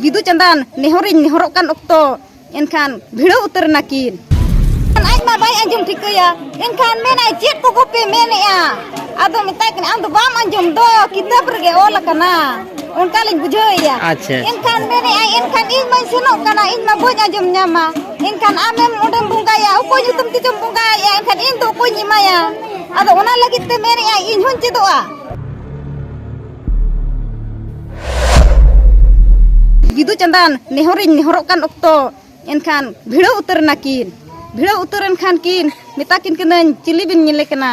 ᱵᱤᱫᱩ ᱪᱟᱸᱫᱟᱱ ᱱᱮᱦᱚᱨᱤᱧ ᱱᱮᱦᱚᱨᱚᱜ ᱠᱟᱱ ᱚᱠᱛᱚ ᱮᱱᱠᱷᱟᱱ ᱵᱷᱤᱲᱟᱹᱣ ᱩᱛᱟᱹᱨ ᱱᱟᱠᱤᱱ ᱟᱡ ᱢᱟ ᱵᱟᱭ ᱟᱸᱡᱚᱢ ᱴᱷᱤᱠᱟᱹᱭᱟ ᱮᱱᱠᱷᱟᱱ ᱢᱮᱱᱟᱭ ᱪᱮᱫ ᱠᱚ ᱜᱚᱯᱮ ᱢᱮᱱᱮᱜᱼᱟ ᱟᱫᱚ ᱢᱮᱛᱟᱭ ᱠᱟᱱᱟ ᱟᱢ ᱫᱚ ᱵᱟᱢ ᱟᱸᱡᱚᱢ ᱫᱚ ᱠᱤᱛᱟᱹᱵ ᱨᱮᱜᱮ ᱚᱞ ᱟᱠᱟᱱᱟ ᱚᱱᱠᱟ ᱞᱤᱧ ᱵᱩᱡᱷᱟᱹᱣᱮᱭᱟ ᱟᱪᱪᱷᱟ ᱮᱱᱠᱷᱟᱱ ᱢᱮᱱᱮᱜᱼᱟᱭ ᱮᱱᱠᱷᱟᱱ ᱤᱧ ᱢᱟᱧ ᱥᱮᱱᱚᱜ ᱠᱟᱱᱟ ᱤᱧ ᱢᱟ ᱵᱟᱹᱧ ᱟᱸᱡᱚᱢ ᱧᱟᱢᱟ ᱮᱱᱠᱷᱟᱱ ᱟᱢᱮᱢ ᱚᱸᱰᱮᱢ ᱵᱚᱸᱜᱟᱭᱟ ᱚᱠᱚᱭ ᱧᱩᱛᱩᱢ ᱛᱮᱪᱚᱢ ᱵᱚᱸᱜᱟᱭᱟ ᱮᱱᱠᱷᱟᱱ ᱤᱧ ᱫᱚ ᱚᱠᱚᱭᱧ ᱮᱢᱟᱭᱟ ᱟᱫᱚ ᱚᱱᱟ ᱞᱟᱹᱜᱤᱫ ᱛᱮ ᱢᱮᱱᱮᱜᱼᱟᱭ ᱤᱧ ᱦᱚᱸᱧ ᱪᱮᱫᱚᱜᱼᱟ ᱵᱤᱫᱩ ᱪᱟᱸᱫᱟᱱ ᱱᱮᱦᱚᱨᱤᱧ ᱱᱮᱦᱚᱨᱚᱜ ᱠᱟᱱ ᱚᱠᱛᱚ ᱮᱱᱠᱷᱟᱱ ᱵᱷᱤᱲᱟᱹᱣ ᱩᱛᱟᱹᱨ ᱮᱱᱟ ᱠᱤᱱ ᱵᱷᱤᱲᱟᱹᱣ ᱩᱛᱟᱹᱨ ᱮᱱᱠᱷᱟᱱ ᱠᱤᱱ ᱢᱮᱛᱟ ᱠᱤᱱ ᱠᱟᱹᱱᱟᱹᱧ ᱪᱤᱞᱤ ᱵᱤᱱ ᱧᱮᱞᱮ ᱠᱟᱱᱟ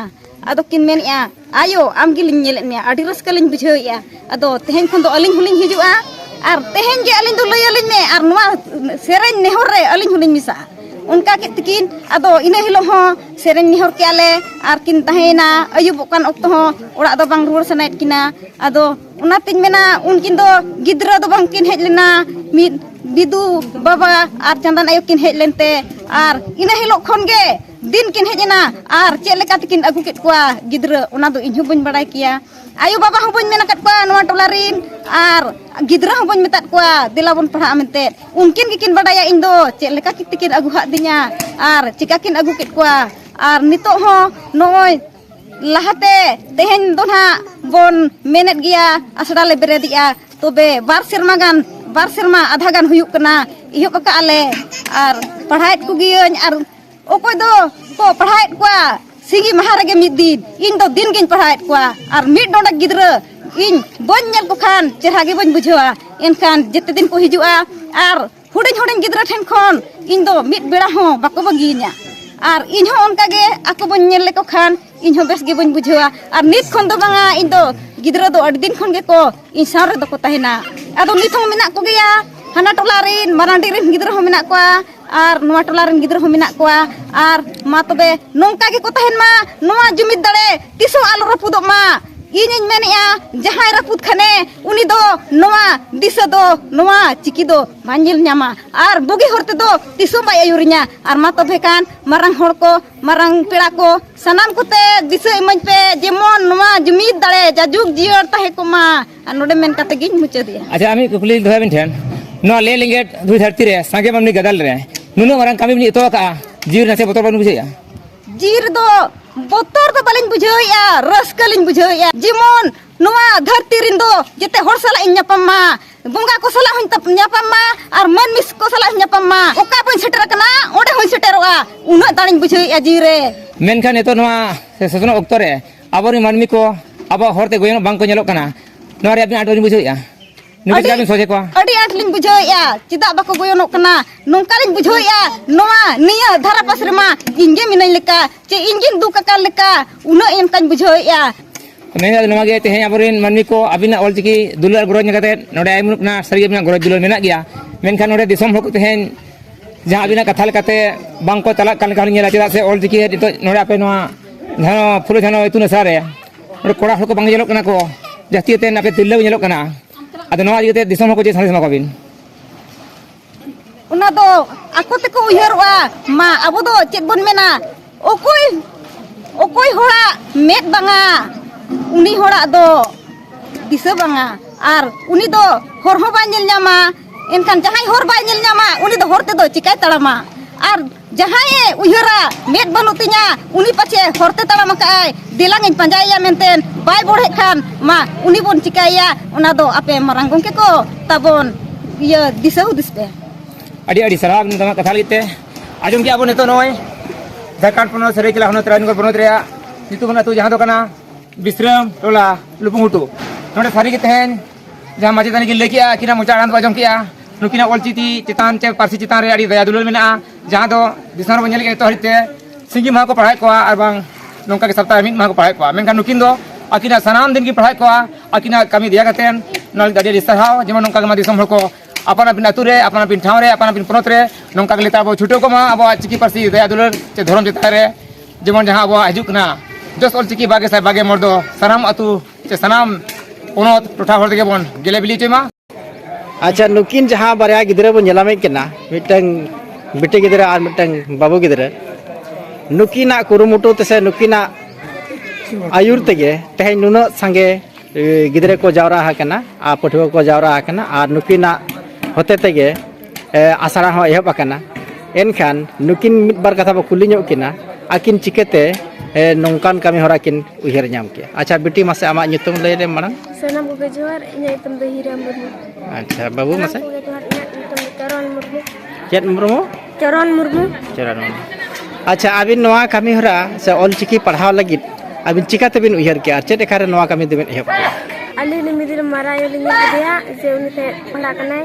ᱟᱫᱚ ᱠᱤᱱ ᱢᱮᱱᱮᱜᱼᱟ ᱟᱭᱳ ᱟᱢ ᱜᱮᱞᱤᱧ ᱧᱮᱞᱮᱫ ᱢᱮᱭᱟ ᱟᱹᱰᱤ ᱨᱟᱹᱥᱠᱟᱹ ᱞᱤᱧ ᱵᱩᱡᱷᱟᱹᱣᱮᱜᱼᱟ ᱟᱫᱚ ᱛᱮᱦᱮᱧ ᱠᱷᱚᱱ ᱫᱚ ᱟᱹᱞᱤᱧ ᱦᱚᱸᱞᱤᱧ ᱦᱤᱡᱩᱜᱼᱟ ᱟᱨ ᱛᱮᱦᱮᱧ ᱜᱮ ᱟᱹᱞᱤᱧ ᱫᱚ ᱞᱟᱹᱭ ᱟᱹᱞᱤᱧ ᱢᱮ ᱟᱨ ᱱᱚᱣᱟ ᱥᱮᱨᱮᱧ ᱱᱮᱦᱚᱨ ᱨᱮ ᱟᱹᱞᱤᱧ ᱦᱚᱸᱞᱤᱧ ᱢᱮᱥᱟᱜᱼᱟ ᱚᱱᱠᱟ ᱠᱮᱫ ᱛᱮᱠᱤᱱ ᱟᱫᱚ ᱤᱱᱟᱹ ᱦᱤᱞᱳᱜ ᱦᱚᱸ ᱥᱮᱨᱮᱧ ᱱᱮᱦᱚᱨ ᱠᱮᱜᱼᱟ ᱞᱮ ᱟᱨ ᱠᱤᱱ ᱛᱟᱦᱮᱸᱭᱮᱱᱟ ᱟᱹᱭᱩᱵᱚᱜ ᱠᱟᱱ ᱚᱠᱛᱚ ᱦᱚᱸ ᱚᱲᱟᱜ ᱫᱚ ᱵᱟᱝ ᱨᱩᱣᱟᱹᱲ ᱥᱟᱱᱟᱭᱮᱫ ᱠᱤᱱᱟ ᱟᱫᱚ ᱚᱱᱟᱛᱤᱧ ᱢᱮᱱᱟ ᱩᱱᱠᱤᱱ ᱫᱚ ᱜᱤᱫᱽᱨᱟᱹ ᱫᱚ ᱵᱟᱝ ᱠᱤᱱ ᱦᱮᱡ ᱞᱮᱱᱟ ᱢᱤᱫ ᱵᱤᱫᱩ ᱵᱟᱵᱟ ᱟᱨ ᱪᱟᱸᱫᱟᱱ ᱟᱭᱳ ᱠᱤᱱ ᱦᱮᱡ ᱞᱮᱱᱛᱮ ᱟᱨ ᱤᱱᱟᱹ ᱦᱤᱞᱳᱜ ᱠᱷᱚᱱ ᱜᱮ ᱫᱤᱱ ᱠᱤᱱ ᱦᱮᱡ ᱮᱱᱟ ᱟᱨ ᱪᱮᱫ ᱞᱮᱠᱟ ᱛᱮᱠᱤᱱ ᱟᱹᱜᱩ ᱠᱮᱫ ᱠᱚᱣᱟ ᱜᱤᱫᱽᱨᱟᱹ ᱚᱱᱟ ᱫᱚ ᱤᱧ ᱦᱚᱸ ᱵᱟᱹᱧ ᱵᱟᱲᱟᱭ ᱠᱮᱭᱟ ᱟᱭᱳ ᱵᱟᱵᱟ ᱦᱚᱸ ᱵᱟᱹᱧ ᱢᱮᱱ ᱟᱠᱟᱫ ᱠᱚᱣᱟ ᱱᱚᱣᱟ ᱴᱚᱞᱟ ᱨᱤᱱ ᱟᱨ ᱜᱤᱫᱽᱨᱟᱹ ᱦᱚᱸ ᱵᱟᱹᱧ ᱢᱮᱛᱟᱫ ᱠᱚᱣᱟ ᱫᱮᱞᱟ ᱵᱚᱱ ᱯᱟᱲᱦᱟᱜᱼᱟ ᱢᱮᱱᱛᱮ ᱩᱱᱠᱤᱱ ᱜᱮᱠᱤᱱ ᱵᱟᱰᱟᱭᱟ ᱤᱧ ᱫᱚ ᱪᱮᱫ ᱞᱮᱠᱟ ᱛᱮᱠᱤᱱ ᱟᱹᱜᱩ ᱟᱠᱟᱫ ᱫᱤᱧᱟ ᱟᱨ ᱪᱤᱠᱟᱹ ᱠᱤᱱ ᱟᱹᱜᱩ ᱠᱮᱫ ᱠᱚᱣᱟ ᱟᱨ ᱱᱤᱛᱚᱜ ᱦᱚᱸ ᱱᱚᱜᱼᱚᱭ ᱞᱟᱦᱟᱛᱮ ᱛᱮᱦᱮᱧ ᱫᱚ ᱱᱟᱦᱟᱜ ᱵᱚᱱ ᱢᱮᱱᱮᱫ ᱜᱮᱭᱟ ᱟᱥᱲᱟ ᱞᱮ ᱵᱮᱨᱮᱫᱮᱜᱼᱟ ᱛᱚᱵᱮ ᱵᱟᱨ ᱥᱮᱨᱢᱟ ᱜᱟᱱ ᱵᱟᱨ ᱥᱮᱨᱢᱟ ᱟᱫᱷᱟ ᱜᱟᱱ ᱦᱩᱭᱩᱜ ᱠᱟᱱᱟ ᱮᱦᱚᱵ ᱟᱠᱟᱫᱼᱟ ᱞᱮ ᱟᱨ ᱯᱟᱲᱦᱟᱣᱮᱫ ᱠᱚᱜᱮᱭᱟᱹᱧ ᱟᱨ ᱚᱠᱚᱭ ᱫᱚ ᱠᱚ ᱯᱟᱲᱦᱟᱣᱮᱫ ᱠᱚᱣᱟ ᱥᱤᱸᱜᱤ ᱢᱟᱦᱟ ᱨᱮᱜᱮ ᱢᱤᱫ ᱫᱤᱱ ᱤᱧ ᱫᱚ ᱫᱤᱱ ᱜᱤᱧ ᱯᱟᱲᱦᱟᱣᱮᱫ ᱠᱚᱣᱟ ᱟᱨ ᱢᱤᱫ ᱰᱚᱸᱰᱮᱠ ᱜᱤᱫᱽᱨᱟᱹ ᱤᱧ ᱵᱟᱹᱧ ᱧᱮᱞ ᱠᱚ ᱠᱷᱟᱱ ᱪᱮᱦᱨᱟ ᱜᱮ ᱵᱟᱹᱧ ᱵᱩᱡᱷᱟᱹᱣᱟ ᱮᱱᱠᱷᱟᱱ ᱡᱮᱛᱮ ᱫᱤᱱ ᱠᱚ ᱦᱤᱡᱩᱜᱼᱟ ᱟᱨ ᱦᱩᱰᱤᱧ ᱦᱩᱰᱤᱧ ᱜᱤᱫᱽᱨᱟᱹ ᱴᱷᱮᱱ ᱠᱷᱚᱱ ᱤᱧ ᱫᱚ ᱢᱤᱫ ᱵᱮᱲᱟ ᱦᱚᱸ ᱵᱟᱠᱚ ᱵᱟᱹᱜᱤᱭᱤᱧᱟ ᱟᱨ ᱤᱧ ᱦᱚᱸ ᱚᱱᱠᱟ ᱜᱮ ᱟᱠᱚ ᱵᱟᱹᱧ ᱧᱮᱞ ᱞᱮᱠᱚ ᱠᱷᱟᱱ ᱤᱧ ᱦᱚᱸ ᱵᱮᱥ ᱜᱮ ᱵᱟᱹᱧ ᱵᱩᱡᱷᱟᱹᱣᱟ ᱟᱨ ᱱᱤᱛ ᱠᱷᱚᱱ ᱫᱚ ᱵᱟᱝᱟ ᱤᱧ ᱫᱚ ᱜᱤᱫᱽᱨᱟᱹ ᱫᱚ ᱟᱹᱰᱤ ᱫᱤᱱ ᱠᱷᱚᱱ ᱜᱮᱠᱚ ᱤᱧ ᱥᱟᱶ ᱨᱮᱫᱚ ᱠᱚ ᱛᱟᱦᱮᱱᱟ ᱟᱫᱚ ᱱᱤᱛ ᱦᱚᱸ ᱢᱮᱱᱟᱜ ᱠᱚᱜᱮᱭᱟ ᱦᱟᱱᱟ ᱴᱚᱞᱟ ᱨᱮᱱ ᱢᱟᱨᱟᱝᱰᱤ ᱨᱮᱱ ᱜᱤᱫᱽᱨᱟᱹ ᱦᱚᱸ ᱢᱮᱱᱟᱜ ᱠᱚᱣᱟ ᱟᱨ ᱱᱚᱣᱟ ᱴᱚᱞᱟ ᱨᱮᱱ ᱜᱤᱫᱽᱨᱟᱹ ᱦᱚᱸ ᱢᱮᱱᱟᱜ ᱠᱚᱣᱟ ᱟᱨ ᱢᱟ ᱛᱚᱵᱮ ᱱᱚᱝᱠᱟ ᱜᱮᱠᱚ ᱛᱟᱦᱮᱱ ᱢᱟ ᱱᱚᱣᱟ ᱡᱩᱢᱤᱫ ᱫᱟᱲᱮ ᱛᱤᱥ ᱦᱚᱸ ᱟᱞᱚ ᱨᱟᱹᱯᱩᱫᱚᱜ ᱢᱟ ᱤᱧᱤᱧ ᱢᱮᱱᱮᱜᱼᱟ ᱡᱟᱦᱟᱸᱭ ᱨᱟᱹᱯᱩᱫ ᱠᱷᱟᱱᱮ ᱩᱱᱤ ᱫᱚ ᱱᱚᱣᱟ ᱫᱤᱥᱟᱹ ᱫᱚ ᱱᱚᱣᱟ ᱪᱤᱠᱤ ᱫᱚ ᱵᱟᱭ ᱧᱮᱞ ᱧᱟᱢᱟ ᱟᱨ ᱵᱩᱜᱤ ᱦᱚᱨ ᱛᱮᱫᱚ ᱛᱤᱥ ᱦᱚᱸ ᱵᱟᱭ ᱟᱹᱭᱩᱨᱤᱧᱟ ᱟᱨ ᱢᱟ ᱛᱚᱵᱮ ᱠᱷᱟᱱ ᱢᱟᱨᱟᱝ ᱦᱚᱲ ᱠᱚ ᱢᱟᱨᱟᱝ ᱯᱮᱲᱟ ᱠᱚ ᱥᱟᱱᱟᱢ ᱠᱚᱛᱮ ᱫᱤᱥᱟᱹ ᱤᱢᱟᱹᱧ ᱯᱮ ᱡᱮᱢᱚᱱ ᱱᱚᱣᱟ ᱡᱩᱢᱤᱫ ᱫᱟᱲᱮ ᱡᱟᱭᱡᱩᱜᱽ ᱡᱤᱭᱟᱹᱲ ᱛᱟᱦᱮᱸ ᱠᱚᱜ ᱢᱟ ᱟᱨ ᱱᱚᱰᱮ ᱢᱮᱱ ᱠᱟᱛᱮ ᱜᱤᱧ ᱢᱩᱪᱟᱹᱫᱮᱜᱼᱟ ᱟᱪᱪᱷᱟ ᱟᱢᱤᱡ ᱠᱩᱠᱞᱤ ᱫᱚᱦᱚᱭ ᱵᱤᱱ ᱴᱷᱮᱱ ᱱᱚᱣᱟ ᱞᱮ ᱞᱤᱸᱜᱮᱴ ᱫᱷᱩᱭ ᱫᱷᱟᱹᱨᱛᱤ ᱨᱮ ᱥᱟᱸᱜᱮ ᱢᱟᱹᱱᱢᱤ ᱜᱟᱫᱟᱞ ᱨᱮ ᱱᱩᱱᱟᱹᱜ ᱢᱟᱨᱟᱝ ᱠᱟᱹᱢᱤ ᱵᱤᱱ ᱮᱛᱚᱦᱚᱵ ᱠᱟᱜᱼᱟ ᱡᱤᱣᱤ ᱱᱟᱥᱮ ᱵᱚᱛᱚᱨ ᱵᱟᱹᱱ ᱵᱩᱡᱷᱟᱹᱣᱮᱜᱼᱟ ᱡᱤᱣᱤ ᱨᱮᱫᱚ ᱵᱚᱛᱚᱨ ᱫᱚ ᱵᱟᱹᱞᱤᱧ ᱵᱩᱡᱷᱟᱹᱣᱮᱜᱼᱟ ᱨᱟᱹᱥᱠᱟᱹ ᱞᱤᱧ ᱵᱩᱡᱷᱟᱹᱣᱮᱜᱼᱟ ᱡᱮᱢᱚᱱ ᱱᱚᱣᱟ ᱫᱷᱟᱹᱨᱛᱤ ᱨᱮᱱ ᱫᱚ ᱡᱮᱛᱮ ᱦᱚᱲ ᱥᱟᱞᱟᱜ ᱤᱧ ᱧᱟᱯᱟᱢ ᱢᱟ ᱵᱚᱸᱜᱟ ᱠᱚ ᱥᱟᱞᱟᱜ ᱦᱚᱧ ᱧᱟᱯᱟᱢ ᱢᱟ ᱟᱨ ᱢᱟᱹᱱᱢᱤ ᱠᱚ ᱥᱟᱞᱟᱜ ᱦᱚᱧ ᱧᱟᱯᱟᱢ ᱢᱟ ᱚᱠᱟ ᱵᱟᱹᱧ ᱥᱮᱴᱮᱨ ᱟᱠᱟᱱᱟ ᱚᱸᱰᱮ ᱦᱚᱧ ᱥᱮᱴᱮᱨᱚᱜᱼᱟ ᱩᱱᱟᱹᱜ ᱫᱟᱲᱮᱧ ᱵᱩᱡᱷᱟᱹᱣᱮᱜᱼᱟ ᱡᱤᱣᱤ ᱨᱮ ᱢᱮᱱᱠᱷᱟᱱ ᱱᱤᱛᱚᱜ ᱱᱚᱣᱟ ᱥᱮᱥᱱᱚᱜ ᱚᱠᱛᱚ ᱨᱮ ᱟᱵᱚ ᱨᱮᱱ ᱢᱟᱹᱱᱢᱤ ᱠᱚ ᱟᱵᱚᱣᱟᱜ ᱦᱚᱨᱛᱮ ᱜᱚᱭᱚᱱᱚᱜ ᱵᱟᱝᱠᱚ ᱧᱮᱞᱚᱜ ᱠᱟᱱᱟ ᱱᱚᱣᱟ ᱨᱮ ᱟᱹᱵᱤᱱ ᱟᱸᱴ ᱵᱟᱹᱵᱤᱱ ᱵᱩᱡᱷᱟᱹᱣᱮᱫᱼᱟ ᱱᱩᱠᱩ ᱪᱮᱫᱟᱜ ᱵᱤᱱ ᱥᱚᱡᱷᱮ ᱠᱚᱣᱟ ᱟᱹᱰᱤ ᱟᱸᱴ ᱞᱤᱧ ᱵᱩᱡᱷᱟᱹᱣᱮᱫᱼᱟ ᱪᱮᱫᱟᱜ ᱵᱟᱠᱚ ᱜᱚᱭᱚᱱᱚᱜ ᱠᱟᱱᱟ ᱱᱚᱝᱠᱟ ᱞᱤᱧ ᱵᱩᱡᱷᱟᱹᱣᱮᱫᱼᱟ ᱱᱚᱣᱟ ᱱᱤᱭᱟᱹ ᱫᱷᱟᱨᱟ ᱯᱟᱥ ᱨᱮᱢᱟ ᱤᱧ ᱜᱮ ᱢᱤᱱᱟᱹᱧ ᱞᱮᱠᱟ ᱪᱮ ᱤᱧ ᱜᱤᱧ ᱫᱩᱠ ᱟᱠᱟᱱ ᱞᱮᱠᱟ ᱩᱱᱟᱹᱜ ᱚᱱᱠᱟᱧ ᱵᱩᱡᱷᱟᱹᱣᱮᱫᱼᱟ ᱢᱮᱱᱮᱫᱟ ᱱᱚᱣᱟ ᱜᱮ ᱛᱮᱦᱮᱧ ᱟᱵᱚᱨᱮᱱ ᱢᱟᱹᱱᱢᱤ ᱠᱚ ᱟᱹᱵᱤᱱᱟᱜ ᱚᱞᱪᱤᱠᱤ ᱫᱩᱞᱟᱹᱲ ᱜᱚᱨᱚᱡᱽ ᱧᱮᱞ ᱠᱟᱛᱮ ᱱᱚᱰᱮ ᱟᱭᱢᱟ ᱠᱟᱱᱟ ᱥᱟᱹᱨᱤ ᱟᱹᱵᱤᱱᱟᱜ ᱜᱚᱨᱚᱡᱽ ᱫᱩᱞᱟᱹᱲ ᱢᱮᱱᱟᱜ ᱜᱮᱭᱟ ᱢᱮᱱᱠᱷᱟᱱ ᱱᱚᱰᱮ ᱫᱤᱥᱚᱢ ᱦᱚᱲ ᱠᱚ ᱛᱮᱦᱮᱧ ᱡᱟᱦᱟᱸ ᱟᱹᱵᱤᱱᱟᱜ ᱠᱟᱛᱷᱟ ᱞᱮᱠᱟᱛᱮ ᱵᱟᱝᱠᱚ ᱪᱟᱞᱟᱜ ᱠᱟᱱ ᱞᱮᱠᱟ ᱦᱚᱸᱞᱤᱧ ᱧᱮᱞᱟ ᱪᱮᱫᱟᱜ ᱥᱮ ᱚᱞᱪᱤᱠᱤ ᱱᱤᱛᱚᱜ ᱱᱚᱰᱮ ᱟᱯᱮ ᱱᱚᱣᱟ ᱡᱟᱦᱟᱸ ᱯᱷᱩᱞᱳ ᱡᱷᱟᱱᱚ ᱤᱛᱩᱱ ᱟᱥᱲᱟ ᱨᱮ ᱚᱸᱰᱮ ᱠᱚᱲᱟ ᱦᱚᱲ ᱠᱚ ᱵᱟᱝ ᱧᱮᱞᱚᱜ ᱠᱟᱱᱟ ᱠᱚ ᱡᱟᱹᱥᱛᱤ ᱠᱟᱛᱮ ᱟᱯᱮ ᱛᱤᱨᱞᱟᱹ ᱠᱚ ᱧᱮᱞᱚᱜ ᱠᱟᱱᱟ ᱟᱫᱚ ᱱᱚᱣᱟ ᱤᱫᱤ ᱠᱟᱛᱮ ᱫᱤᱥᱚᱢ ᱦᱚᱲ ᱠᱚ ᱪᱮᱫ ᱥᱟᱸᱫᱮᱥ ᱮᱢᱟ ᱠᱚᱣᱟᱵᱤᱱ ᱚᱱᱟ ᱫᱚ ᱟᱠᱚ ᱛᱮᱠᱚ ᱩᱭᱦᱟᱹᱨᱚᱜᱼᱟ ᱢᱟ ᱟᱵᱚ ᱫᱚ ᱪᱮᱫ ᱵᱚᱱ ᱢᱮᱱᱟ ᱚᱠᱚᱭ ᱚᱠᱚᱭ ᱦᱚᱲᱟᱜ ᱢᱮᱫ ᱵᱟᱝᱟ ᱩᱱᱤ ᱦᱚᱲᱟᱜ ᱫᱚ ᱫᱤᱥᱟᱹ ᱵᱟᱝᱟ ᱟᱨ ᱩᱱᱤ ᱫᱚ ᱦᱚᱨ ᱦᱚᱸ ᱵᱟᱭ ᱧᱮᱞ ᱧᱟᱢᱟ ᱮᱱᱠᱷᱟᱱ ᱡᱟᱦᱟᱸᱭ ᱦᱚᱨ ᱵᱟᱭ ᱧᱮᱞ ᱧᱟᱢᱟ ᱩᱱᱤ ᱫᱚ ᱦᱚᱨ ᱛᱮᱫᱚ ᱪᱤᱠᱟᱭ ᱛᱟᱲᱟᱢᱟ ᱟᱨ ᱡᱟᱦᱟᱸᱭ ᱩᱭᱦᱟᱹᱨᱟ ᱢᱮᱫ ᱵᱟᱹᱱᱩᱜ ᱛᱤᱧᱟ ᱩᱱᱤ ᱯᱟᱪᱷᱮ ᱦᱚᱨ ᱛᱮ ᱛᱟᱲᱟᱢ ᱟᱠᱟᱜᱼᱟᱭ ᱫᱮᱞᱟᱝ ᱤᱧ ᱯᱟᱸᱡᱟᱭᱮᱭᱟ ᱢᱮᱱᱛᱮ ᱵᱟᱭ ᱵᱚᱲᱦᱮᱜ ᱠᱷᱟᱱ ᱢᱟ ᱩᱱᱤ ᱵᱚᱱ ᱪᱤᱠᱟᱭᱮᱭᱟ ᱚᱱᱟ ᱫᱚ ᱟᱯᱮ ᱢᱟᱨᱟᱝ ᱜᱚᱢᱠᱮ ᱠᱚ ᱛᱟᱵᱚᱱ ᱤᱭᱟᱹ ᱫᱤᱥᱟᱹ ᱦᱩᱫᱤᱥ ᱯᱮ ᱟᱹᱰᱤ ᱟᱹᱰᱤ ᱥᱟᱨᱦᱟᱣ ᱱᱚᱣᱟ ᱠᱟᱛᱷᱟ ᱞᱟᱹᱜᱤᱫ ᱛᱮ ᱟᱸᱡᱚᱢ ᱠᱮᱜᱼᱟ ᱵᱚᱱ ᱱᱤᱛᱚᱜ ᱱᱚᱜᱼᱚᱭ ᱡᱷᱟᱲᱠᱷᱚᱸᱰ ᱯᱚᱱᱚᱛ ᱥᱟᱹᱨᱟᱹᱭᱠᱮᱞᱟ ᱦᱚᱱᱚᱛ ᱨᱟᱡᱽᱱᱚᱜᱚᱨ ᱯᱚᱱᱚᱛ ᱨᱮᱭᱟᱜ ᱧᱩᱛᱩᱢᱟᱱ ᱟᱹᱛᱩ ᱡᱟᱦᱟᱸ ᱫᱚ ᱠᱟᱱᱟ ᱵᱤᱥᱨᱟᱢ ᱴᱚᱞᱟ ᱞᱩᱯᱩᱝᱜᱷᱩᱴᱩ ᱱᱚᱰᱮ ᱥᱟᱹᱨᱤᱜᱮ ᱛᱮᱦᱮᱧ ᱡᱟᱦᱟᱸ ᱢᱟᱪᱮᱛᱟᱹᱱᱤ ᱠᱤᱱ ᱞᱟᱹᱭ ᱠᱮᱜᱼᱟ ᱟᱹᱠᱤᱱᱟᱜ ᱢᱚᱪᱟ ᱟᱲᱟᱝ ᱫᱚ ᱟᱸᱡᱚᱢ ᱠᱮᱜᱼᱟ ᱱᱩᱠᱤᱱᱟᱜ ᱚᱞᱪᱤᱠᱤ ᱪᱮᱛᱟᱱ ᱪᱮ ᱯᱟᱹᱨᱥᱤ ᱪᱮᱛᱟᱱ ᱨᱮ ᱟᱹᱰᱤ ᱫᱟᱭᱟ ᱫᱩᱞᱟᱹᱲ ᱢᱮᱱᱟᱜᱼᱟ ᱡᱟᱦᱟᱸ ᱫᱚ ᱫᱤᱥᱚᱢ ᱨᱮᱵᱚᱱ ᱧᱮᱞᱮᱫ ᱡᱚᱛᱚ ᱦᱟᱹᱨᱤᱡ ᱛᱮ ᱥᱤᱸᱜᱤ ᱢᱟᱦᱟ ᱠᱚ ᱯᱟᱲᱦᱟᱣᱮᱫ ᱠᱚᱣᱟ ᱟᱨ ᱵᱟᱝ ᱱᱚᱝᱠᱟ ᱜᱮ ᱥᱚᱯᱛᱟᱦᱚ ᱨᱮ ᱢᱤᱫ ᱢᱟᱦᱟ ᱠᱚ ᱯᱟᱲᱦᱟᱣᱮᱫ ᱠᱚᱣᱟ ᱢᱮᱱᱠᱷᱟᱱ ᱱᱩᱠᱤᱱ ᱫᱚ ᱟᱹᱠᱤᱱᱟᱜ ᱥᱟᱱᱟᱢ ᱫᱤᱱ ᱠᱤᱱ ᱯᱟᱲᱦᱟᱣᱮᱫ ᱠᱚᱣᱟ ᱟᱹᱠᱤᱱᱟᱜ ᱠᱟᱹᱢᱤ ᱫᱮᱭᱟ ᱠᱟᱛᱮ ᱱᱚᱣᱟ ᱞᱟᱹᱜᱤᱫ ᱟᱹᱰᱤ ᱟᱹᱰᱤ ᱥᱟᱨᱦᱟᱣ ᱡᱮᱢᱚᱱ ᱱᱚᱝᱠᱟ ᱜᱮ ᱫᱤᱥᱚᱢ ᱦᱚᱲ ᱠᱚ ᱟᱯᱟᱱ ᱟᱹᱯᱤᱱ ᱟᱹᱛᱩ ᱨᱮ ᱟᱯᱟᱱ ᱟᱹᱯᱤᱱ ᱴᱷᱟᱶ ᱨᱮ ᱟᱯᱟᱱ ᱟᱹᱯᱤᱱ ᱯᱚᱱᱚᱛ ᱨᱮ ᱱᱚᱝᱠᱟ ᱜᱮ ᱞᱮᱛᱟᱲ ᱵᱚ ᱪᱷᱩᱴᱟᱹᱣ ᱠᱚᱜ ᱢᱟ ᱟᱵᱚᱣᱟᱜ ᱪᱤᱠᱤ ᱯᱟᱹᱨᱥᱤ ᱫᱟᱭᱟ ᱫᱩᱞᱟᱹᱲ ᱪᱮ ᱫᱷᱚᱨᱚᱢ ᱪᱮᱛᱟᱱ ᱨᱮ ᱡᱮᱢᱚᱱ ᱡᱟᱦᱟᱸ ᱟᱵᱚᱣᱟᱜ ᱦᱤᱡᱩᱜ ᱠᱟᱱᱟ ᱡᱚᱥ ᱚᱞᱪᱤᱠᱤ ᱵᱟᱜᱮ ᱥᱟᱭ ᱵᱟᱜᱮ ᱢᱚᱬ ᱫᱚ ᱥᱟᱱᱟᱢ ᱟᱹᱛᱩ ᱥᱮ ᱥᱟᱱᱟᱢ ᱯᱚᱱᱚᱛ ᱴᱚᱴᱷᱟ ᱦᱚᱲ ᱛᱮᱜᱮ ᱵᱚᱱ ᱜᱮᱞᱮ ᱵᱤᱞᱤ ᱦᱚᱪᱚᱭ ᱢᱟ ᱟᱪᱪᱷᱟ ᱱᱩᱠᱤᱱ ᱡᱟᱦᱟᱸ ᱵᱟᱨᱭᱟ ᱜᱤᱫᱽᱨᱟᱹ ᱵᱚᱱ ᱧᱮᱞᱟᱢᱮ ᱠᱟᱱᱟ ᱢᱤᱫᱴᱟᱝ ᱵᱤᱴᱤ ᱜᱤᱫᱽᱨᱟᱹ ᱟᱨ ᱢᱤᱫᱴᱟᱝ ᱵᱟᱹᱵᱩ ᱜᱤᱫᱽᱨᱟᱹ ᱱᱩᱠᱤᱱᱟᱜ ᱠᱩᱨᱩᱢᱩᱴᱩ ᱛᱮᱥᱮ ᱱᱩᱠᱤᱱᱟᱜ ᱟᱹᱭᱩᱨ ᱛᱮᱜᱮ ᱛᱮᱦᱮᱧ ᱱᱩᱱᱟᱹᱜ ᱥᱟᱸᱜᱮ ᱜᱤᱫᱽᱨᱟᱹ ᱠᱚ ᱡᱟᱣᱨᱟ ᱟᱠᱟᱱᱟ ᱟᱨ ᱯᱟᱹᱴᱷᱩᱣᱟᱹ ᱠᱚ ᱡᱟᱣᱨᱟ ᱟᱠᱟᱱᱟ ᱟᱨ ᱱᱩᱠᱤᱱᱟᱜ ᱦᱚᱛᱮ ᱛᱮᱜᱮ ᱟᱥᱲᱟ ᱦᱚᱸ ᱮᱦᱚᱵ ᱟᱠᱟᱱᱟ ᱮᱱᱠᱷᱟᱱ ᱱᱩᱠᱤᱱ ᱢᱤᱫ ᱵᱟᱨ ᱠᱟᱛᱷᱟ ᱵᱚ ᱠᱩᱞᱤ ᱧᱚᱜ ᱠᱤᱱᱟ ᱟᱹᱠᱤᱱ ᱪᱤᱠᱟᱹᱛᱮ ᱱᱚᱝᱠᱟᱱ ᱠᱟᱹᱢᱤ ᱦᱚᱨᱟ ᱠᱤᱱ ᱩᱭᱦᱟᱹᱨ ᱧᱟᱢ ᱠᱮᱜᱼᱟ ᱟᱪᱪᱷᱟ ᱵᱤᱴᱤ ᱢᱟᱥᱮ ᱟᱢᱟᱜ ᱧᱩᱛᱩᱢ ᱞᱟᱹᱭ ᱞᱮᱢ ᱢᱟᱲᱟᱝ ᱥᱟᱱᱟᱢ ᱠᱚᱜᱮ ᱡᱚᱦᱟᱨ ᱤᱧᱟᱹᱜ ᱧᱩᱛᱩᱢ ᱫᱚ ᱦᱤᱨᱟ ᱢᱩᱨᱢᱩ ᱟᱪᱪᱷᱟ ᱵᱟᱹᱵᱩ ᱢᱟᱥᱮ ᱠᱚᱜᱮ ᱡᱚᱦᱟᱨ ᱤᱧᱟᱹᱜ ᱧᱩᱛᱩᱢ ᱫᱚ ᱪᱚᱨᱚᱱ ᱢᱩᱨᱢᱩ ᱪᱮᱫ ᱢᱩᱨᱢᱩ ᱪᱚᱨᱚᱱ ᱢᱩᱨᱢᱩ ᱪᱚᱨᱚᱱ ᱢᱩᱨᱢᱩ ᱟᱪᱪᱷᱟ ᱟᱹᱵᱤᱱ ᱱᱚᱣᱟ ᱠᱟᱹᱢᱤ ᱦᱚᱨᱟ ᱥᱮ ᱚᱞᱪᱤᱠᱤ ᱯᱟᱲᱦᱟᱣ ᱞᱟᱹᱜᱤᱫ ᱟᱹᱵᱤᱱ ᱪᱤᱠᱟ ᱛᱮᱵᱤᱱ ᱩᱭᱦᱟᱹᱨ ᱠᱮᱜᱼᱟ ᱪᱮᱫ ᱞᱮᱠᱟᱨᱮ ᱱᱚᱣᱟ ᱠᱟᱹᱢᱤ ᱫᱚᱵᱤᱱ ᱮᱦᱚᱵ ᱠᱮᱜᱼᱟ ᱟᱹᱞᱤᱧ ᱢᱤᱫ ᱫᱤᱱ ᱢᱟᱨᱟᱝ ᱟᱭᱳ ᱞᱤᱧ ᱧᱮᱞ ᱠᱮᱫᱮᱭᱟ ᱡᱮ ᱩᱱᱤ ᱛᱮ ᱯᱟᱲᱦᱟᱜ ᱠᱟᱱᱟᱭ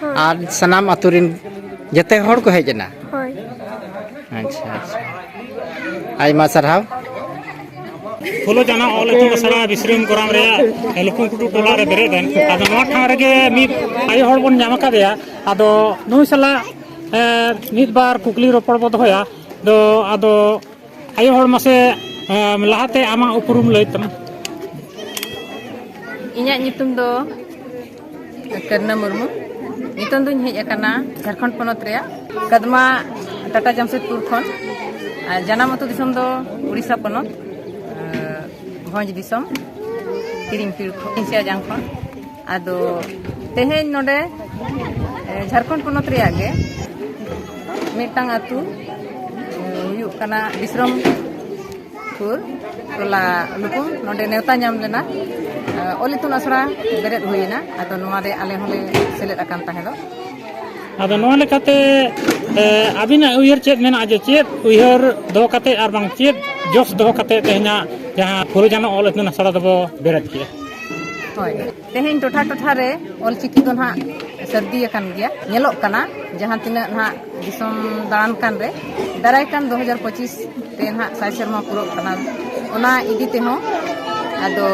ᱦᱳᱭ ᱟᱨ ᱥᱟᱱᱟᱢ ᱟᱛᱳ ᱨᱮᱱ ᱡᱮᱛᱮ ᱦᱚᱲ ᱠᱚ ᱦᱮᱡ ᱮᱱᱟ ᱦᱳᱭ ᱟᱪᱪᱷᱟ ᱟᱪᱪᱷᱟ ᱟᱭᱢᱟ ᱥᱟᱨᱦᱟᱣ ᱯᱷᱩᱞᱳ ᱡᱟᱱᱟ ᱚᱞ ᱤᱛᱩᱱ ᱟᱥᱲᱟ ᱵᱤᱥᱨᱟᱢ ᱜᱚᱨᱟᱢ ᱨᱮᱭᱟᱜ ᱞᱩᱠᱩᱝ ᱴᱩᱰᱩ ᱴᱚᱞᱟ ᱨᱮ ᱵᱮᱨᱮᱫ ᱮᱱ ᱟᱫᱚ ᱱᱚᱣᱟ ᱴᱷᱟᱶ ᱨᱮᱜᱮ ᱢᱤᱫ ᱟᱭᱳ ᱦᱚᱲ ᱵᱚᱱ ᱧᱟᱢ ᱟᱠᱟᱫᱮᱭᱟ ᱟᱫᱚ ᱱᱩᱭ ᱥᱟᱞᱟᱜ ᱮᱸ, ᱢᱤᱫ ᱵᱟᱨ ᱠᱩᱠᱞᱤ ᱨᱚᱯᱚᱲ ᱵᱚ ᱫᱚᱦᱚᱭᱟ ᱫᱚ ᱟᱫᱚ ᱟᱭᱳ ᱦᱚᱲ ᱢᱟᱥᱮ ᱮᱸ, ᱞᱟᱦᱟᱛᱮ ᱟᱢᱟᱜ ᱩᱯᱨᱩᱢ ᱞᱟᱹᱭ ᱛᱟᱢ ᱤᱧᱟᱹᱜ ᱧᱩᱛᱩᱢ ᱫᱚ ᱠᱟᱨᱱᱟ ᱢᱩᱨᱢᱩ ᱱᱤᱛᱚᱝ ᱫᱚᱧ ᱦᱮᱡ ᱟᱠᱟᱱᱟ ᱡᱷᱟᱲᱠᱷᱚᱸᱰ ᱯᱚᱱᱚᱛ ᱨᱮᱭᱟᱜ ᱠᱟᱫᱢᱟ ᱴᱟᱴᱟ ᱡᱟᱢᱥᱮᱫᱽᱯᱩᱨ ᱠᱷᱚᱱ ᱟᱨ ᱡᱟᱱᱟᱢ ᱟᱹᱛᱩ ᱫᱤᱥᱚᱢ ᱫᱚ ᱩᱲᱤᱥᱥᱟ ᱯᱚᱱᱚᱛ ᱵᱷᱚᱸᱡᱽ ᱫᱤᱥᱚᱢ ᱠᱤᱨᱤᱝᱯᱤᱲ ᱠᱷᱚᱱ ᱥᱤᱭᱟᱡᱟᱝ ᱠᱷᱚᱱ ᱟᱫᱚ ᱛᱮᱦᱮᱧ ᱱᱚᱰᱮ ᱡᱷᱟᱲᱠᱷᱚᱸᱰ ᱯᱚᱱᱚᱛ ᱨᱮᱭᱟᱜ ᱜᱮ ᱢᱤᱫᱴᱟᱝ ᱟᱹᱛᱩ ᱦᱩᱭᱩᱜ ᱠᱟᱱᱟ ᱵᱤᱥᱨᱚᱢ ᱥᱩᱨ ᱴᱚᱞᱟ ᱱᱩᱠᱩ ᱱᱚᱰᱮ ᱱᱮᱣᱛᱟ ᱧᱟᱢ ᱞᱮᱱᱟ ᱚᱞ ᱤᱛᱩᱱ ᱟᱥᱲᱟ ᱵᱮᱨᱮᱫ ᱦᱩᱭᱮᱱᱟ ᱟᱫᱚ ᱱᱚᱣᱟ ᱨᱮ ᱟᱞᱮ ᱦᱚᱸᱞᱮ ᱥᱮᱞᱮᱫ ᱟᱠᱟᱱ ᱛᱟᱦᱮᱸ ᱫᱚ ᱟᱫᱚ ᱱᱚᱣᱟ ᱞᱮᱠᱟᱛᱮ ᱟᱹᱵᱤᱱᱟᱜ ᱩᱭᱦᱟᱹᱨ ᱪᱮᱫ ᱢᱮᱱᱟᱜᱼᱟ ᱡᱮ ᱪᱮᱫ ᱩᱭᱦᱟᱹᱨ ᱫᱚᱦᱚ ᱠᱟᱛᱮ ᱟᱨ ᱵᱟᱝ ᱪᱮᱫ ᱡᱚᱥ ᱫᱚᱦᱚ ᱠᱟᱛᱮ ᱛᱮᱦᱮᱧᱟᱜ ᱡᱟᱦᱟᱸ ᱯᱷᱩᱨᱩᱡᱟᱱᱚ ᱚᱞ ᱤᱛᱩᱱ ᱟᱥᱲᱟ ᱫᱚᱵᱚ ᱵᱮᱨᱮᱫ ᱠᱮᱜᱼᱟ ᱦᱳᱭ ᱛᱮᱦᱮᱧ ᱴᱚᱴᱷᱟ ᱴᱚᱴᱷᱟ ᱨᱮ ᱚᱞ ᱪᱤᱠᱤ ᱫᱚ ᱱᱟᱜ ᱥᱟᱹᱨᱫᱤ ᱟᱠᱟᱱ ᱜᱮᱭᱟ ᱧᱮᱞᱚᱜ ᱠᱟᱱᱟ ᱡᱟᱦᱟᱸ ᱛᱤᱱᱟᱹᱜ ᱱᱟᱜ ᱫᱤᱥᱚᱢ ᱫᱟᱬᱟᱱ ᱠᱟᱱ ᱨᱮ ᱫᱟᱨᱟᱭ ᱠᱟᱱ ᱫᱩ ᱦᱟᱡᱟᱨ ᱯᱚᱸᱪᱤᱥ ᱛᱮ ᱱᱟᱜ ᱥᱟᱭ ᱥᱮᱨᱢᱟ ᱯᱩᱨᱟᱹᱜ ᱠᱟᱱᱟ ᱚᱱᱟ ᱤᱫᱤ ᱛᱮᱦᱚᱸ ᱟᱫᱚ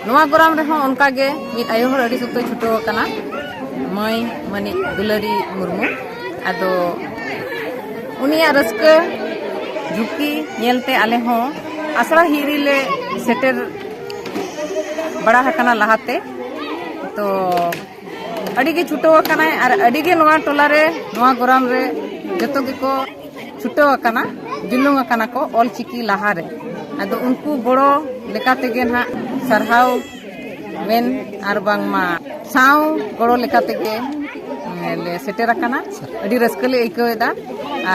ᱱᱚᱣᱟ ᱜᱚᱨᱟᱢ ᱨᱮᱦᱚᱸ ᱚᱱᱠᱟ ᱜᱮ ᱢᱤᱫ ᱟᱭᱳ ᱦᱚᱲ ᱟᱹᱰᱤ ᱥᱚᱠᱛᱚᱭ ᱪᱷᱩᱴᱟᱹᱣ ᱟᱠᱟᱱᱟ ᱢᱟᱹᱭ ᱢᱟᱹᱱᱤᱡ ᱫᱩᱞᱟᱹᱨᱤ ᱢᱩᱨᱢᱩ ᱟᱫᱚ ᱩᱱᱤᱭᱟᱜ ᱨᱟᱹᱥᱠᱟᱹ ᱡᱷᱩᱸᱠᱤ ᱧᱮᱞᱛᱮ ᱟᱞᱮ ᱦᱚᱸ ᱟᱥᱲᱟ ᱦᱤᱨᱤ ᱞᱮ ᱥᱮᱴᱮᱨ ᱵᱟᱲᱟ ᱟᱠᱟᱱᱟ ᱞᱟᱦᱟᱛᱮ ᱛᱚ ᱟᱹᱰᱤ ᱜᱮ ᱪᱷᱩᱴᱟᱹᱣ ᱟᱠᱟᱱᱟᱭ ᱟᱨ ᱟᱹᱰᱤ ᱜᱮ ᱱᱚᱣᱟ ᱴᱚᱞᱟ ᱨᱮ ᱱᱚᱣᱟ ᱜᱚᱨᱟᱢ ᱨᱮ ᱡᱚᱛᱚ ᱜᱮᱠᱚ ᱪᱷᱩᱴᱟᱹᱣ ᱟᱠᱟᱱᱟ ᱡᱩᱞᱩᱝ ᱟᱠᱟᱱᱟ ᱠᱚ ᱚᱞ ᱪᱤᱠᱤ ᱞᱟᱦᱟ ᱨᱮ ᱟᱫᱚ ᱩᱱᱠᱩ ᱜᱚᱲᱚ ᱞᱮᱠᱟ ᱛᱮᱜᱮ ᱱᱟᱜ ᱥᱟᱨᱦᱟᱣ ᱢᱮᱱ ᱟᱨ ᱵᱟᱝᱢᱟ ᱥᱟᱶ ᱜᱚᱲᱚ ᱞᱮᱠᱟ ᱛᱮᱜᱮ ᱞᱮ ᱥᱮᱴᱮᱨ ᱟᱠᱟᱱᱟ ᱟᱹᱰᱤ ᱨᱟᱹᱥᱠᱟᱹ ᱞᱮ ᱟᱹᱭᱠᱟᱹᱣᱮᱫᱟ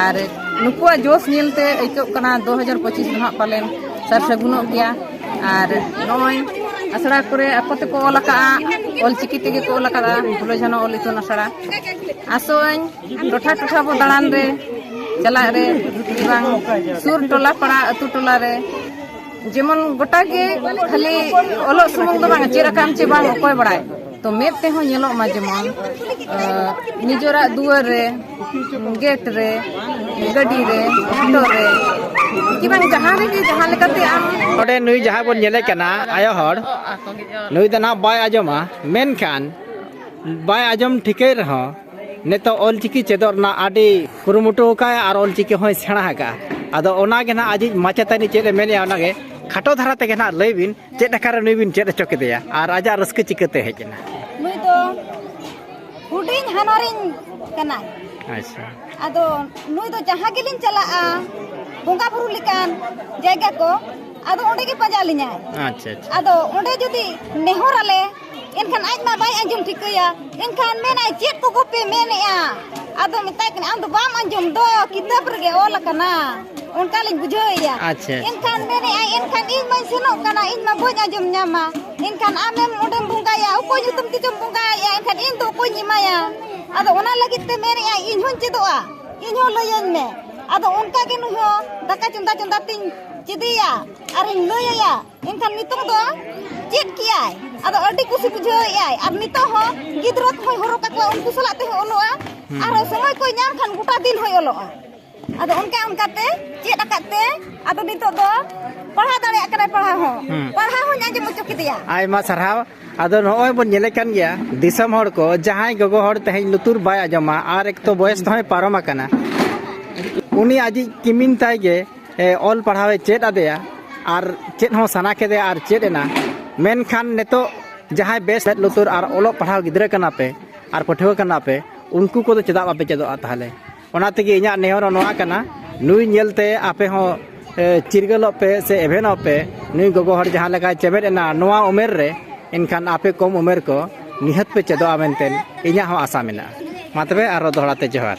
ᱟᱨ ᱱᱩᱠᱩᱣᱟᱜ ᱡᱚᱥ ᱧᱮᱞᱛᱮ ᱟᱹᱭᱠᱟᱹᱜ ᱠᱟᱱᱟ ᱫᱩ ᱦᱟᱡᱟᱨ ᱯᱚᱸᱪᱤᱥ ᱫᱚ ᱱᱟᱜ ᱯᱟᱞᱮᱱ ᱥᱟᱨ ᱥᱟᱹᱜᱩᱱᱚᱜ ᱜᱮᱭᱟ ᱟᱨ ᱱᱚᱜᱼᱚᱭ ᱟᱥᱲᱟ ᱠᱚᱨᱮ ᱟᱠᱚ ᱛᱮᱠᱚ ᱚᱞ ᱟᱠᱟᱫᱼᱟ ᱚᱞᱪᱤᱠᱤ ᱛᱮᱜᱮ ᱠᱚ ᱚᱞ ᱟᱠᱟᱫᱼᱟ ᱯᱷᱩᱞᱳ ᱡᱷᱟᱱᱚ ᱚᱞ ᱤᱛᱩᱱ ᱟᱥᱲᱟ ᱟᱥᱚᱜᱼᱟᱹᱧ ᱴᱚᱴᱷᱟ ᱴᱚᱴᱷᱟ ᱵᱚ ᱫᱟᱬᱟᱱ ᱨᱮ ᱪᱟᱞᱟᱜ ᱨᱮ ᱵᱟᱝ ᱥᱩᱨ ᱴᱚᱞᱟ ᱯᱟᱲᱟ ᱟᱹᱛᱩ ᱴᱚᱞᱟ ᱨᱮ ᱡᱮᱢᱚᱱ ᱜᱚᱴᱟ ᱜᱮ ᱠᱷᱟᱹᱞᱤ ᱚᱞᱚᱜ ᱥᱩᱢᱩᱝ ᱫᱚ ᱵᱟᱝ ᱪᱮᱫ ᱟᱠᱟᱫ ᱪᱮ ᱵᱟᱝ ᱚᱠᱚᱭ ᱵᱟᱲᱟᱭ ᱛᱚ ᱢᱮᱫ ᱛᱮᱦᱚᱸ ᱧᱮᱞᱚᱜ ᱢᱟ ᱡᱮᱢᱚᱱ ᱱᱤᱡᱮᱨᱟᱜ ᱫᱩᱣᱟᱹᱨ ᱨᱮ ᱜᱮᱴ ᱨᱮ ᱜᱟᱹᱰᱤ ᱨᱮ ᱚᱴᱳ ᱨᱮ ᱠᱤ ᱵᱟᱝ ᱡᱟᱦᱟᱸ ᱨᱮᱜᱮ ᱡᱟᱦᱟᱸ ᱞᱮᱠᱟᱛᱮ ᱟᱢ ᱱᱚᱰᱮ ᱱᱩᱭ ᱡᱟᱦᱟᱸ ᱵᱚᱱ ᱧᱮᱞᱮ ᱠᱟᱱᱟ ᱟᱭᱳ ᱦᱚᱲ ᱱᱩᱭ ᱫᱚ ᱱᱟᱦᱟᱜ ᱵᱟᱭ ᱟᱸᱡᱚᱢᱟ ᱢᱮᱱᱠᱷᱟᱱ ᱵᱟᱭ ᱟᱸᱡᱚᱢ ᱴᱷᱤᱠᱟᱹᱭ ᱨᱮᱦᱚᱸ ᱱᱤᱛᱚᱜ ᱚᱞᱪᱤᱠᱤ ᱪᱮᱫᱚᱜ ᱨᱮᱱᱟᱜ ᱟᱹᱰᱤ ᱠᱩᱨᱩᱢᱩᱴᱩ ᱟᱠᱟᱫ ᱟᱨ ᱚᱞᱪᱤᱠᱤ ᱦᱚᱸᱭ ᱥᱮᱬᱟ ᱟᱠᱟᱫᱼᱟ ᱟᱫᱚ ᱚᱱᱟᱜᱮ ᱱᱟᱦᱟᱜ ᱟᱡᱤᱡ ᱢᱟᱪᱮᱛᱟᱹᱱᱤ ᱪᱮᱫ ᱮ ᱢᱮᱱᱮᱫᱼᱟ ᱚᱱᱟᱜᱮ ᱠᱷᱟᱴᱚ ᱫᱷᱟᱨᱟ ᱛᱮᱜᱮ ᱱᱟᱦᱟᱜ ᱞᱟᱹᱭ ᱵᱤᱱ ᱪᱮᱫ ᱟᱠᱟᱨᱮ ᱱᱩᱭ ᱵᱤᱱ ᱪᱮᱫ ᱦᱚᱪᱚ ᱠᱮᱫᱮᱭᱟ ᱟᱨ ᱟᱡᱟᱜ ᱨᱟᱹᱥᱠᱟᱹ ᱪᱤᱠᱟᱹᱛᱮ ᱦᱮᱡ ᱮᱱᱟ ᱦᱩᱰᱤᱧ ᱦᱟᱱᱟᱨᱤᱧ ᱠᱟᱱᱟᱭ ᱟᱪᱪᱷᱟ ᱟᱫᱚ ᱱᱩᱭ ᱫᱚ ᱡᱟᱦᱟᱸ ᱜᱮᱞᱤᱧ ᱪᱟᱞᱟᱜᱼᱟ ᱵᱚᱸᱜᱟ ᱵᱩᱨᱩ ᱞᱮᱠᱟᱱ ᱡᱟᱭᱜᱟ ᱠᱚ ᱟᱫᱚ ᱚᱸᱰᱮ ᱜᱮ ᱯᱟᱸᱡᱟ ᱞᱤᱧᱟᱭ ᱟᱪᱪᱷᱟ ᱟᱪᱪᱷᱟ ᱟᱫᱚ ᱚᱸᱰᱮ ᱡᱩᱫᱤ ᱱᱮᱦᱚᱨ ᱟᱞᱮ ᱮᱱᱠᱷᱟᱱ ᱟᱡ ᱢᱟ ᱵᱟᱭ ᱟᱸᱡᱚᱢ ᱴᱷᱤᱠᱟᱹᱭᱟ ᱮᱱᱠᱷᱟᱱ ᱢᱮᱱᱟᱭ ᱪᱮᱫ ᱠᱚᱠᱚ ᱯᱮ ᱢᱮᱱᱮᱜᱼᱟ ᱟᱫᱚ ᱢᱮᱛᱟᱭ ᱠᱟᱱᱟ ᱟᱢ ᱫᱚ ᱵᱟᱢ ᱟᱸᱡᱚᱢ ᱫᱚ ᱠᱤᱛᱟᱹᱵ ᱨᱮᱜᱮ ᱚᱞ ᱟᱠᱟᱱᱟ ᱚᱱᱠᱟ ᱞᱤᱧ ᱵᱩᱡᱷᱟᱹᱣᱮᱭᱟ ᱟᱪᱪᱷᱟ ᱮᱱᱠᱷᱟᱱ ᱢᱮᱱᱮᱜᱼᱟᱭ ᱮᱱᱠᱷᱟᱱ ᱤᱧ ᱢᱟᱧ ᱥᱮᱱᱚᱜ ᱠᱟᱱᱟ ᱤᱧ ᱢᱟ ᱵᱟᱹᱧ ᱟᱸᱡᱚᱢ ᱧᱟᱢᱟ ᱮᱱᱠᱷᱟᱱ ᱟᱢᱮᱢ ᱚᱸᱰᱮᱢ ᱵᱚᱸᱜᱟᱭᱟ ᱚᱠᱚᱭ ᱧᱩᱛᱩᱢ ᱛᱮᱪᱚᱢ ᱵᱚᱸᱜᱟᱭᱮᱜᱼᱟ ᱮᱱᱠᱷᱟᱱ ᱤᱧ ᱫᱚ ᱚᱠᱚᱭᱤᱧ ᱮᱢᱟᱭᱟ ᱟᱫᱚ ᱚᱱᱟ ᱞᱟᱹᱜᱤᱫ ᱛᱮ ᱢᱮᱱᱮᱜᱼᱟ ᱤᱧ ᱦᱚᱸᱧ ᱪᱮᱫᱚᱜᱼᱟ ᱤᱧ ᱦᱚᱸ ᱞᱟᱹᱭᱟᱹᱧ ᱢᱮ ᱟᱫᱚ ᱚᱱᱠᱟ ᱜᱮ ᱱᱩᱭ ᱦᱚᱸ ᱫᱟᱠᱟ ᱪᱚᱸᱫᱟ ᱪᱚᱸᱫᱟ ᱛᱤᱧ ᱪᱮᱫᱮᱭᱟ ᱟᱨᱤᱧ ᱞᱟᱹᱭᱟᱭᱟ ᱮᱱᱠᱷᱟᱱ ᱱᱤᱛᱚᱜ ᱫᱚ ᱪᱮᱫ ᱠᱮᱜᱼᱟᱭ ᱟᱫᱚ ᱟᱹᱰᱤ ᱠᱩᱥᱤ ᱵᱩᱡᱷᱟᱹᱣᱮᱜᱼᱟᱭ ᱟᱨ ᱱᱤᱛᱚᱜ ᱦᱚᱸ ᱜᱤᱫᱽᱨᱟᱹ ᱠᱚᱦᱚᱸᱭ ᱦᱚᱨᱚᱜ ᱠᱟᱠᱚᱣᱟ ᱩᱱᱠᱩ ᱥᱟᱞᱟᱜ ᱛᱮᱦᱚᱸ ᱚᱞᱚᱜᱼᱟ ᱟᱨ ᱥᱚᱢᱚᱭ ᱠᱚᱭ ᱧᱟᱢ ᱠᱷᱟᱱ ᱜᱚᱴᱟ ᱫᱤᱱ ᱦᱚᱸᱭ ᱚᱞᱚᱜᱼᱟ ᱟᱫᱚ ᱚᱱᱠᱟ ᱚᱱᱠᱟ ᱛᱮ ᱪᱮᱫ ᱟᱠᱟᱫ ᱛᱮ ᱟᱫᱚ ᱱᱤᱛᱚᱜ ᱫᱚ ᱯᱟᱲᱦᱟᱣ ᱫᱟᱲᱮᱭᱟᱜ ᱠᱟᱱᱟᱭ ᱯᱟᱲᱦᱟᱣ ᱦᱚᱸ ᱯᱟᱲᱦᱟᱣ ᱦᱚᱸᱧ ᱟᱸᱡᱚᱢ ᱦᱚᱪᱚ ᱠᱮᱫᱮᱭᱟ ᱟᱭᱢᱟ ᱥᱟᱨᱦᱟᱣ ᱟᱫᱚ ᱱᱚᱜᱼᱚᱭ ᱵᱚᱱ ᱧᱮᱞᱮ ᱠᱟᱱ ᱜᱮᱭᱟ ᱫᱤᱥᱚᱢ ᱦᱚᱲ ᱠᱚ ᱡᱟᱦᱟᱸᱭ ᱜᱚᱜᱚ ᱦᱚᱲ ᱛᱮᱦᱮᱧ ᱞᱩᱛᱩᱨ ᱵᱟᱭ ᱟᱸᱡᱚᱢᱟ ᱟᱨ ᱮᱠ ᱛᱚ ᱵᱚᱭᱮᱥ ᱛᱮᱦᱚᱸᱭ ᱯᱟᱨᱚᱢ ᱟᱠᱟᱱᱟ ᱩᱱᱤ ᱟᱡᱤᱡ ᱠᱤᱢᱤᱱ ᱛᱟᱭ ᱜᱮ ᱚᱞ ᱯᱟᱲᱦᱟᱣ ᱮ ᱪᱮᱫ ᱟᱫᱮᱭᱟ ᱟᱨ ᱪᱮᱫ ᱦᱚᱸ ᱥᱟᱱᱟ ᱠᱮᱫᱮᱭᱟ ᱟᱨ ᱪᱮᱫ ᱮᱱᱟ ᱢᱮᱱᱠᱷᱟᱱ ᱱᱤᱛᱚᱜ ᱡᱟᱦᱟᱸᱭ ᱵᱮᱥ ᱢᱮᱫ ᱞᱩᱛᱩᱨ ᱟᱨ ᱚᱞᱚᱜ ᱯᱟᱲᱦᱟᱣ ᱜᱤᱫᱽᱨᱟᱹ ᱠᱟᱱᱟ ᱯᱮ ᱟᱨ ᱯᱟᱹᱴᱷᱩᱣᱟᱹ ᱠᱟᱱᱟ ᱯᱮ ᱩᱱᱠᱩ ᱠᱚᱫᱚ ᱪᱮᱫᱟᱜ ᱵᱟᱯᱮ ᱪᱮᱫᱚᱜᱼᱟ ᱛᱟᱦᱚᱞᱮ ᱚᱱᱟ ᱛᱮᱜᱮ ᱤᱧᱟᱹᱜ ᱱᱮᱦᱚᱨ ᱱᱚᱣᱟ ᱠᱟᱱᱟ ᱱᱩᱭ ᱧᱮᱞᱛᱮ ᱟᱯᱮ ᱦᱚᱸ ᱪᱤᱨᱜᱟᱹᱞᱚᱜ ᱯᱮ ᱥᱮ ᱮᱵᱷᱮᱱᱚᱜ ᱯᱮ ᱱᱩᱭ ᱜᱚᱜᱚ ᱦᱚᱲ ᱡᱟᱦᱟᱸ ᱞᱮᱠᱟᱭ ᱪᱮᱢᱮᱫ ᱮᱱᱟ ᱱᱚᱣᱟ ᱩᱢᱮᱨ ᱨᱮ ᱮᱱᱠᱷᱟᱱ ᱟᱯᱮ ᱠᱚᱢ ᱩᱢᱮᱨ ᱠᱚ ᱱᱤᱦᱟᱹᱛ ᱯᱮ ᱪᱮᱫᱚᱜᱼᱟ ᱢᱮᱱᱛᱮ ᱤᱧᱟᱹᱜ ᱦᱚᱸ ᱟᱥᱟ ᱢᱮᱱᱟᱜᱼᱟ ᱢᱟ ᱛᱚᱵᱮ ᱟᱨᱚ ᱫᱚᱦᱲᱟ ᱛᱮ ᱡᱚᱦᱟᱨ